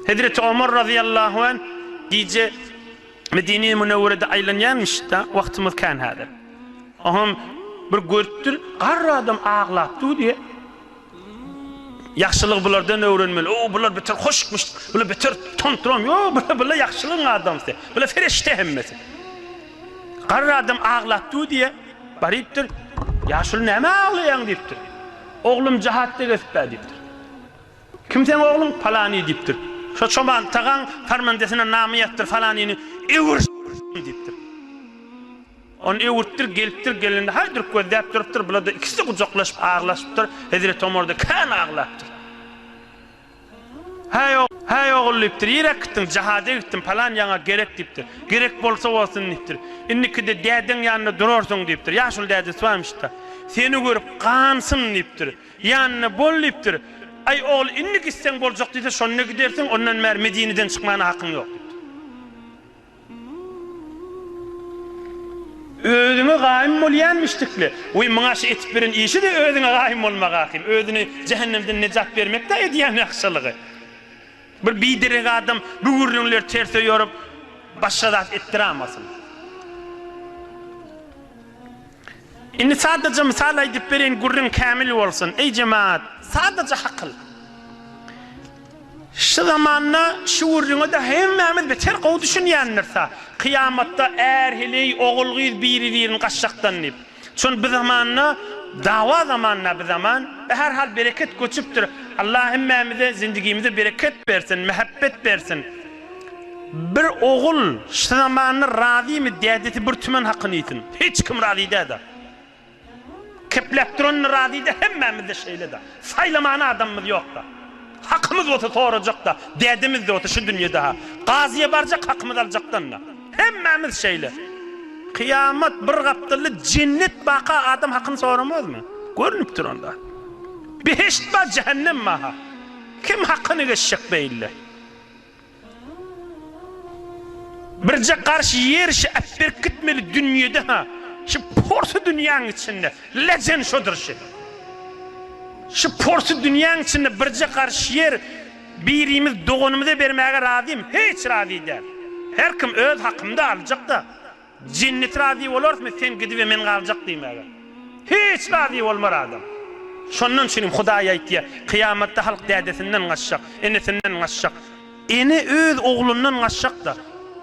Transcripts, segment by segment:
Hezreti Omar razyýallahu anh gije Medine-i Münewwerede aýlanýarmyş-da, wagtymyz kän häzir. Oňam bir görüpdir, garry adam aglap dur diýip, Ýagşylygy bulardan öwrenmeli. O, bular beter hoşukmyş, bular beter tonturam. Ýok, bular, bular ýagşylygyň adamsy. Bular ferişte hemmesi. Garry adam aglap dur diýip, barypdyr, Ýaşuly näme aglaýaň diýipdir. Oglum jahatda gezipdä diýipdir. Kim seň ogluň palany diýipdir. Şo çoban tagaň parmendesine name ýazpdyr falanyny öwür diýipdir. Ony öwürtdir gelipdir gelende haýduryp gözläp durupdyr bulada ikisi gujaklaşyp aglaşypdyr hezreti omarda kän aglapdyr. Häý häý ogul diýipdir nirä gitdiň jahada gitdim palan ýaňa gerek diýipdir. Gerek bolsa bolsun diýipdir. Indikide dädeň ýanynda durarsyň diýipdir. Ýaşuly dädesi barmyşda. Seni görüp gansyn diýipdir. Ýanyna bol diýipdir. Aý, ogul, indi gitseň boljak diýse, şonda gidersiň, ondan bäri Medineden çykmana hakyň ýok diýipdir. Özüňe gaýym bolýan müşrikler, Weý, muňa şu etip ýören işi-de özüňe gaýym bolmak ahym. Özüni jähennemden nejat bermek-dä edýän ýagşylygy. Bir biderek adam bu gürrüňleri terse ýorup, başga zat etdirämasyn. Indi sadaja mysal aýdyp bereýin gürrüň kämil bolsun. Eý jemagat! Sadaja hakyl. Şu zamanda şu gürrüňe-de hemmämiz beter gowy düşünýändirsä. Kyýamatda är-heleý, ogul-gyz biri-birini gaçjakdan diýip. Şony bi zamanda, dawa zamanynda bi zaman. Her hal bereket göçüpdir. Allah hemmämize zindigimize bereket bersin, mähebbet bersin. Bir ogul şu zamanda razymy dädesi bir tümen hakyny iýsin. Hiç kim razy dälda. Kepläp duranna razyda hemmämizde şeýleda. Saýlaman adamymyz ýokda. Hakymyz bolsa sorajakda. Dädemizde bolsa şu dünýede ha. Gazyýa barjak hakymyz aljakdanda. Hemmämiz şeýle. Kyýamat bir gapdalda jennet baka adam hakyny soramazmy? Görnüp dur onda. Behişt ba jähennem ba ha. Kim hakyny geçjek beýle. Birje garşy ýer şi äpberk gitmeli dünýede ha şi porsy dünýäň içinde lejen şodur şi şi porsy dünýäň içinde birje garşy ýer birimiz doganymyza bermäge razym hiç razy däl herkim öz hakymda aljak da Jenneti razy bolarmy sen gidip we men galjak diýmäge? Hiç razy bolmar adam. Şondan üçinem Hudaý aýtýar, kyýamatda halk dädesinden gaçjak, enesinden gaçjak. Ene öz oglundan gaçjak-da.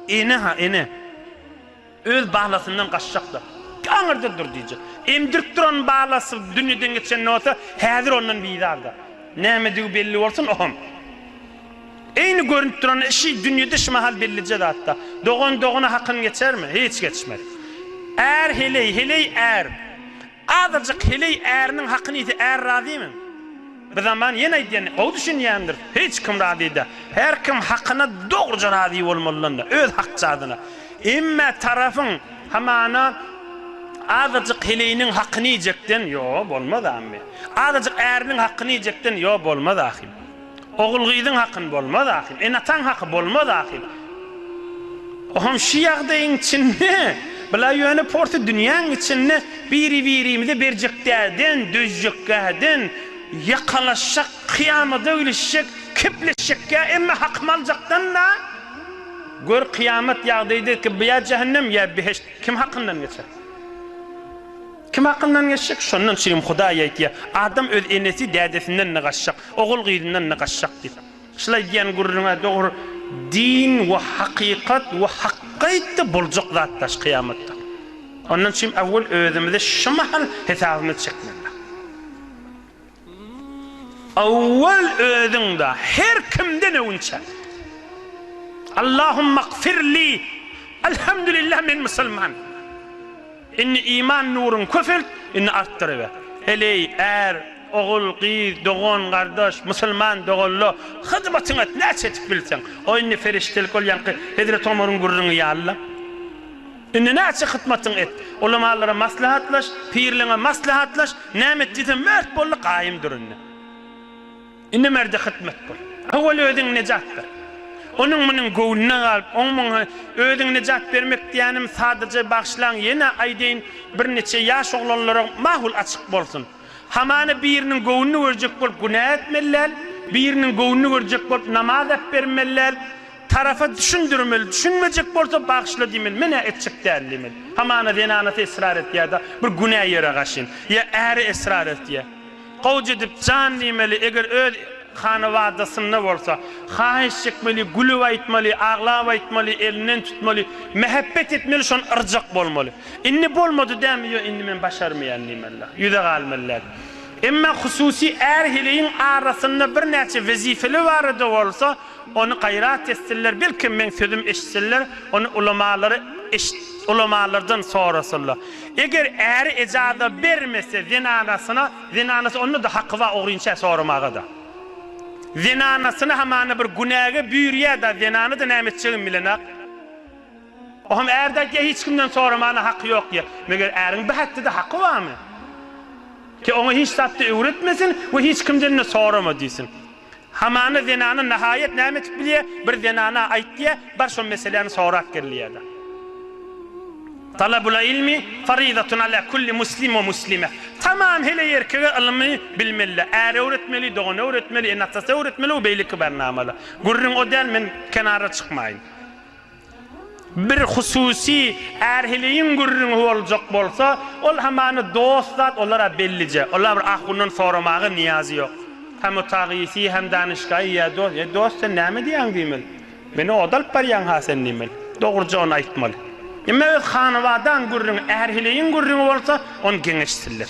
Ene-ha, ene. Öz balasyndan gaçjak-da. Aňyrda dur diýjek. Emdirip duran balasy dünýeden geçen bolsa, häzir ondan bizar-da. Nämedigi belli bolsun, oham. Eýni görnüp duran işi dünýede şu mahal bellije zatda. Dogan dogana hakyn geçermi? Hiç geçmez. Är heleý, heleý är. Azajyk heleý äriniň hakyny iýse är razymy? Bir zaman ýene aýdýan, gowy düşünýändir, hiç kim razy-da. Her kim hakyna dogruja razy bolmalydan-da, öz hakjadyna. Emma tarapyň hamana azajyk heleýiniň hakyny iýjekden, ýo, bolmaz, ammy. Azajyk äriniň hakyny iýjekden, ýo, bolmaz, ahym. Ogul-gyzyň hakyn bolmaz ahil, ene-ataň haky bolmaz ahil. Oham şü ýagdaýyň içinde, bla ýöne porsy dünýäň içinde biri-birimize berjekdäden, dözjekgäden, ýakalaşjak, kyýamada gülüşjek, kepleşjekgä emma hakymy aljakdan-da, gör kyýamat ýagdaýda ki bya jähennem ýa behişt kim hakyndan geçer. Kim hakyndan geçjek? Şondan çynym Hudaý aýtýar, Adam öz enesi, dädesinden nygaşjak, ogul-gyzyndan nygaşjak diýip. Şulaý diýen gürrüň-ä dogry, Din we hakykat we hakky aýtdy, boljak zat daş kyýamatda. Ondan çyn awwel özümize şu mahal hesabymy çekmeli. Owwal özüňde her kimden öwünçä. Allahumagfirli Alhamdulillah men musulman. Indi iman nuruň köpelt indi artdyryber. Eleý är, ogul, gyz, dogan, gardaş, musulman doganla hyzmatyň et näçe etip bilseň. O indi ferişdelik ol ýaňky Hezreti Omaryň gürrüňi ýalyla. Indi näçe hytmatyň et. Ulamalara maslahatlaş, pirleňe maslahatlaş, näme et diýsem mert boldy gaýym dur indi. Indi merde hytmat bol. Owal özüň nejat ber. Onuň munuň göwnüne galyp, oň muň özüň nejat bermek diýänim sadaja bagyşlaň ýene aýdaýyn bir neçe ýaş oglanlara mahul açyk bolsun. Hamana biriniň göwnüni görjek bolup günä etmeli däl, biriniň göwnüni görjek bolup namaz äpbermeli däl, Tarapa düşündirmeli, düşünmejek bolsa bagyşla diýmeli, men-ä etjek däl diýmeli. Hamana zenanasy esrar etýär-de, bir günä ýere gaşyn. Ýa äri esrar etýä. Gowja edip jan diýmeli, eger öz hanabadasynda bolsa, haýyş çekmeli, gülüp aýtmaly, aglap aýtmaly, elinden tutmaly, mähebbet etmeli, şony yrjak bolmaly. Indi bolmady dämi, ýo indi men başarmaýan diýmeli-de, ýüze galmaly-däl. Emma hususy är-heleýiň arasynda birnäçe wezipeli barada bolsa, Ony gaýrat etsinler, belkem meň sözüm eşitsinler, ony ulamalary eşit, ulamalardan sorasylar. Eger äri ejaza bermese zenanasyna, zenanasy onda-da haky bar ogrynçä soramaga-da. Zenanasyny hamana bir günäge büýürýä-da, zenana-da näme etjegini bilenok. O hem ärde aýtýa hiç kimden soramagyna haky ýok diýýä. Meger äriň bu häkde-de haky barmy? Ki oňa hiç zat-da öwretmesin we hiç kimden-de sorama diýsin. Hamana zenana nahaýat näme etip bilýär? Bir zenana aýt diýýär, bar şo meseläni sorap gel diýýär-de. Talabul ilmi farizatun ala kulli muslim we muslime. Tamam heleý erkege ylmy bilmeli, äre öwretmeli, dogana öwretmeli, ene-atasa öwretmeli we beýleki barnamalar. Gürrüň o däl, men kenara çykmaýyn. Bir hususy ärhiligiň gürrüňi boljak bolsa, ol hamany dost zat, olar-a bellije. Olar bir ahundan soramaga nyýazy ýok. Hem Utagysy, hem Danyşgaýy, Ýa dost, ýa dost, sen näme diýýäň diýmeli. Meni oda alyp barýaň-ha sen diýmeli. Dogrujagyny aýtmaly. Emma öz hanabadaň gürrüňi, ärhiligiň gürrüňi bolsa, ony geň eşitsinler.